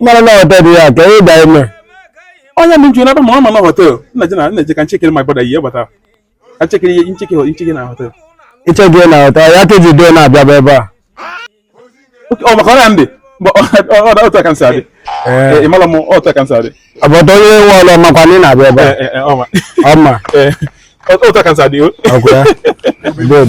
mara na họtelụ ya ka ị da ime onye m jụrụ ebe ma ọ ma na họtelụ nna ji na nna ji ka m checkie my brother ihe bata ka m checkie ihe ncheke ncheke na họtelụ iche gị na họtelụ ya ka eji doo na-abịaba ebe a ọ maka ọrịa ndị mba ọ bụ otu a ka m si adị ị mara m otu a ka m si adị ọbọdọ onye nwe ụlọ makwa na ị na-abịa ebe a ọ ma ọ ma otu a ka m si adị o ọkwa ya good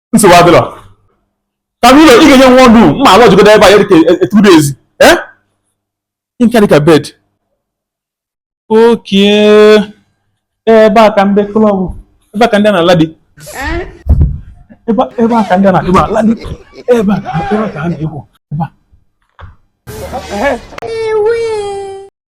nsogbu adịrọ ka m ụlọ ị ga-enye one dụ mma a lodgegodo ebe a ya dịka two days ee nke dịka bed okay ebe a ka ndị club ebe a ka ndị a na-ala dị ebe a ka ndị a na-adịba ala dị ebe a ka a na-egwu ebe a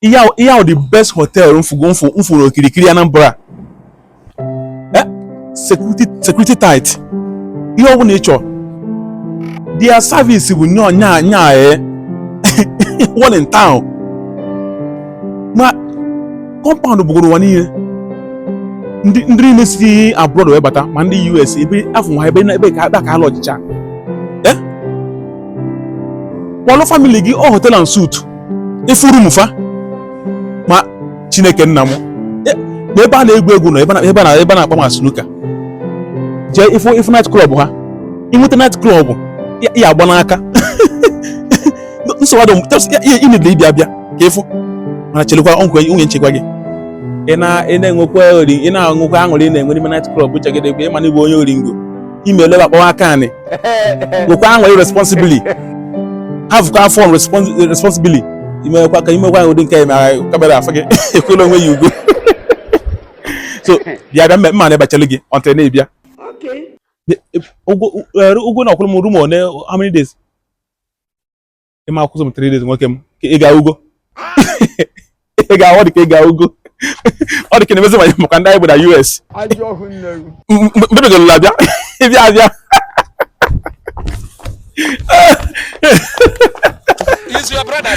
ihe ahụ ihe ahụ the best hotel m fụgo m fụ m fụ na okirikiri Anambra eh security security tight ihe ọ bụla ị chọrọ their service bụ nya nya nya eh one in town ma compound bụgoro ụwa niile ndị ndị niile si abroad wee bata ma ndị US ebe afụ nwa ebe na ebe ka ebe a ka ha lodgecha eh kpọlụ family gị ọ hotel and suite ị fụ room fa ma chineke nna m e, na ebe a na-egwu egwu nọ ebe na ebe na-akpa ma snooker jee ị fụ ị fụ night club ha i nweta night club ya agba n'aka nsogbu ị needị ịbịa abịa ka ị fụ mana chelekwa ọnkwe nwunye nchekwa gị ị na-enwekwa ori ị na-enwekwa aṅụrị ị na-enwe n'ime night club chagide ebe ị ma na ị bụ onye oringo ime eleba akpawa aka anị nwekwa aṅụrị responsibly havụkwa fun responsibly i mekwa ka i mekwa ụdị nke mara camera afụ gị ekwela onwe ya ugwu so bịa bịa m ma-anọ ebe a chere gị until ị na-abịa ụgwọ na ọ kwụrụ m room one how many days ị ma-akwụzi m three days nwoke m ị ga ugo ị ga ọ dị ka ị ga ugo ọ dị ka na-emezi ma maka ndị anyị bụ na US mbebegola abịa ịbịa abịa Is your brother?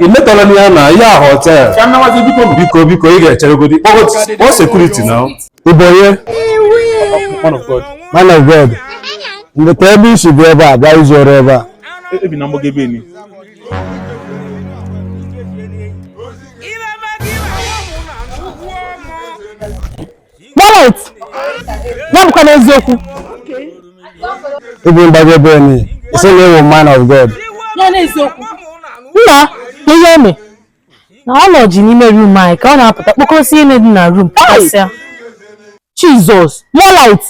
i metọla eh? ya na ya hotel biko biko ị ga-echeregodi kpọọ security now ị bụ onye man of god ndekwa ebe i si bụ ebe a bịa izu ori ebe a Garrett ya bụkwa n'eziokwu ịbụ mgbagwo ebe onye sị na ọ wụ man of God ya n'eziokwu nna ihe o me na ọ lodge n'ime room anyị ka ọ na-apụta kpokọsi ihe dị na room kpọkọsịa Jesus more light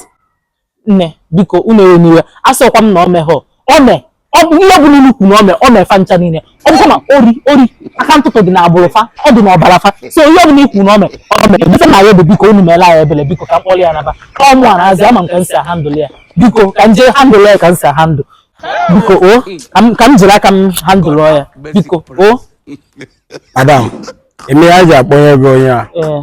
Nne, biko, unu ewena iwe. Asọkwa m na ọ meghọ. Ọ me. Ọ bụ ihe ọbụla unu kwuru na ọ me, ọ me fa ncha niile. Ọ bụkwa na ori, ori, aka ntụtụ dị n'agbụrụ fa, ọ dị n'ọbara fa. So ihe ọbụla i kwu na ọ me, ọ me. Ife na ya bụ biko unu meela ya ebele, biko ka m kpọrọ ya naba. Ọ mụ a na-azị, ama m ka m si a-handle ya. Biko, ka m jee handle ya ka m si a-handle. Biko, o, ka m- ka m jiri aka m handle ya. Biko, o. Madam, eme ya ji akpọnye gị onye a. Ee.